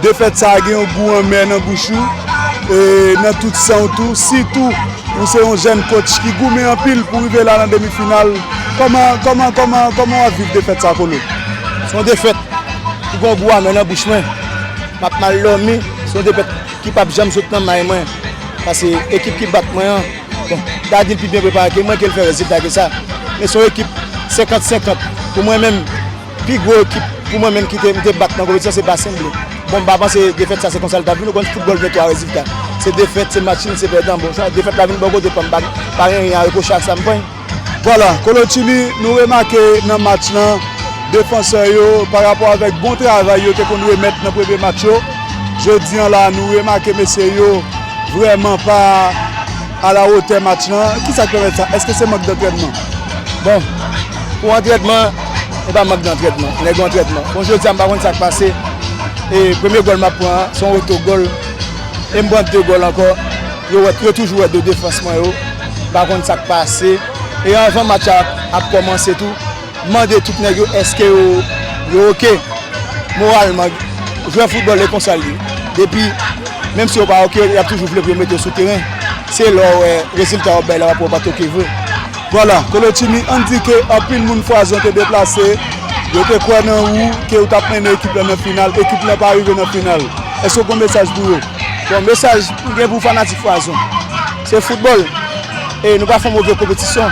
Defèt sa a gen yon gou anmè nan bouch ou e nan tout san w tou, sitou ou se yon jèn kotch ki goumen anpil pou rive la nan demi final. Kòman w ap viv defèt sa a Kolo? Se yon defèt ki gen yon gou amè nan bouch mwen. M ap mal dòmi, se yon defèt ki pap janm sot nan may mwen. Pase ekip ki bat mwen an, bon, Daddy pi byen prepare ke mwen ke l fè rezilta ke sa. Men se yon ekip senkant senkant pou mwen menm. Pi gwo ekip pou mwen menm ki te mte bat nan konpetisyon se Basen Ble. Bon mpa panse defèt sa se konsa li tap vini, ou konn foutbòl gen 3 rezilta. Se defèt, se match nil, se pèdan. Bon sa defèt la vin bò kote pam, pa gen ryen a repwoche ak sam pran. Vwala, Kolo Chili nou remake nan match lan defansè yo pa rapò avèk bon travay yo te konn remèt nan premye match yo, jodi an la nou remake mesye yo vrèman pa a la wotè match lan. Kisa k pèmèt sa? Eske se mank dantrènman? Bon pou antrènman. e pa mank dantrètman. Nèg yo antrètman. Bon jodi a m pa konn sa k pase e premye gòl m ap pran an se yon otogòl e m pran de gòl ankò. Yo wè, yo toujou wè do defans mwen yo. M pa konn sa k pase e anvan match la ap kòmanse tou, m mande tout nèg yo èske yo oke moralman. Jwè foutbòl e konsa l ye. Depi, menm si yo pa oke, y ap toujou vle pou yo mete yo sou teren. Se lè w wè rezilta yo ap bay la w ap wè yo pa t oke vre. Vwala, Kolotchini, ann di ke anpil moun Fwazon te deplase, yo te kwè nan ou, ke ou t ap mennen ekip la nan final, ekip la pa rive nan final. Èske ou gen yon mesaj pou yo? Bon, mesaj m gen pou fanatik Fwazon, se foutbòl, e nou pa fè yon move konpetisyon,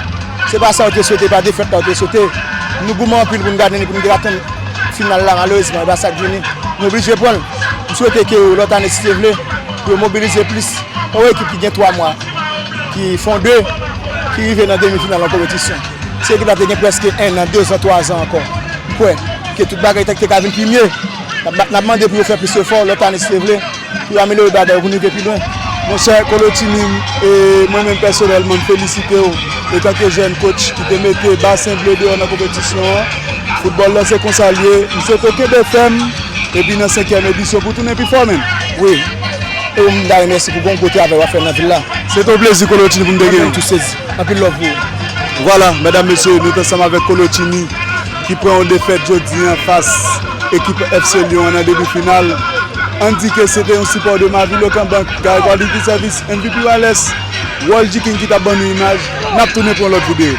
se pa sa yo te swete, pa defèt la yo te swete. Nou goumen anpil pou n gade ni pou n te atenn final la, malerezman e pa sa k vini, nou oblije pran l. M swete ke lòt ane si Dye vle, pou yo mobilize plis, pa yon ekip ki gen 3 mwa. ki fonde, ki rive nan demi final yon kompetisyon. Se ekip la te gen preske 1 an, 2 an, 3 an anko. Kwe, ke tout bagay te ka vin pi mye. Nap mande pou yo fe plis efo, lot ane si Dye vle, pou yo amelyore bagay yo pou nou rive pi lwen. Monchè Kolo Timin, mwen menm pèsonèlman m felisite w etanke jèn kotch ki te mete Basen Ble deyò nan konpetisyon an. Foutbòl lan se konsa l ye. M swete w kenbe fèm epi nan senkyèm edisyon pou w tounen pi fò menm. Ou m da remèsi pou bon gwo travay wap fè nan vil la. Se te yon plezi kolotini pou m te genyen. Mwen menm tou sezi. Anpil love pou ou. Vwala medam mesye nou t ansanm avèk kolotini ki pran yon defèt jodi an fas ekip FC Lyon an nan demi final. Ann di ke se te yon sipò de Mavil Okanbank, Gary Quality Service, MVP Wireless, World G-King ki t ap ban nou imaj. N ap tounen pou yon lòt videyo.